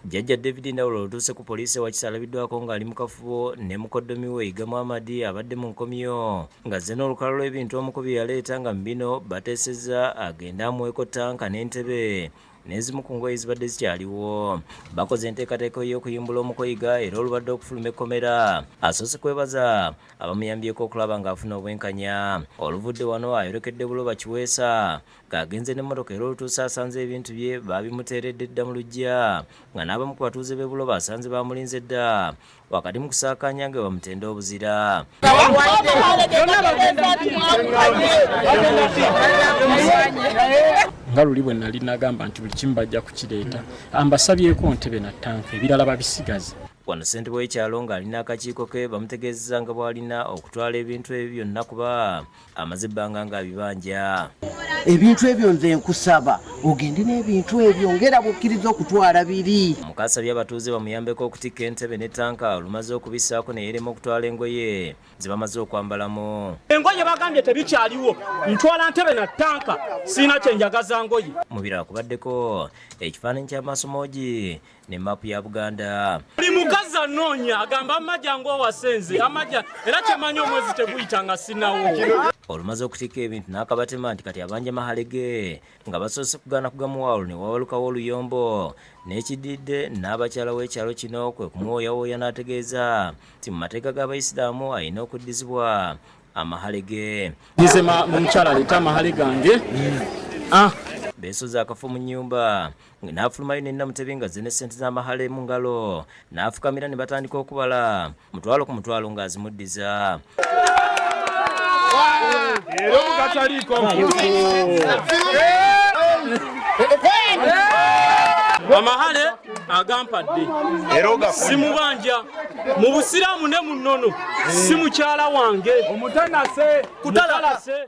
Jjajja David Ndawula olutuuse ku poliisi ewakisa alabiddwako ng'ali mu kafubo ne mukoddomi we Yiga Muhammad abadde mu nkomyo ng'azze n'olukala lw'ebintu omukubi yaleeta nga mu bino bateesezza agende amuweeko ttanka n'entebe n'ezimu ku ngoye zibadde zikyaliwo bakoze enteekateeka ey'okuyimbula omukoyiga era olubadde okufuluma ekkomera asoose kwebaza abamuyambyeko okulaba ng'afuna obwenkanya oluvudde wano ayolekedde buloba kiweesa ng'agenze n'emmotoka era olutuuse asanze ebintu bye baabimuteeredde dda mu luggya nga n'abamu ku batuuze b'e Buloba asanze baamulinze dda wakati mu kusaakaanya nga bamutenda obuzira nga luli bwe nali nagamba nti buli kimu bajja kukireeta ambasabyeko ntebe na ttanka ebirala babisigaze wano ssentebe w'ekyalo ng'alina akakiiko ke bamutegeezeza nga bw'alina okutwala ebintu ebyo byonna kuba amaze ebbanga ng'abibanja ebintu ebyo nze nkusaba ogende n'ebintu ebyo ngera bwokkiriza okutwala biri mukasabye abatuuze bamuyambeko okutikka entebe ne tanka olumaze okubisaako neyerema okutwala engoye ze bamaze okwambalamu engoye bagambye tebikyaliwo ntwala ntebe na tanka siina kyenjagaza ngoye mubirala kubaddeko ekifaananyi ky'amasomogi ne map ya Buganda. Buli mukazi anoonya agamba amagya ng'owasenze amagya era kyemanyi omwezi teguyita nga sinawo. Olumaze okutikka ebintu n'akabatema nti kati abanja mahale ge nga basoose kugaana kugamuwa olwo ne wabalukawo oluyombo n'ekididde n'abakyala w'ekyalo kino kwe kumuwooyawooya n'ategeeza nti mu mateeka g'abayisiraamu alina okuddizibwa amahale ge. Nyize mu mukyala aleeta amahale gange. Ah. Beesoze akafu mu nnyumba. n'afulumayo ne Namutebi ng'azze ne ssente z'amahala mu ngalo n'afukamira ne batandika okubala mutwalo ku mutwalo ng'azimuddiza era omugataliiko amahale agampadde simubanja mu busiraamu ne mu nnono si mukyala wange kutalase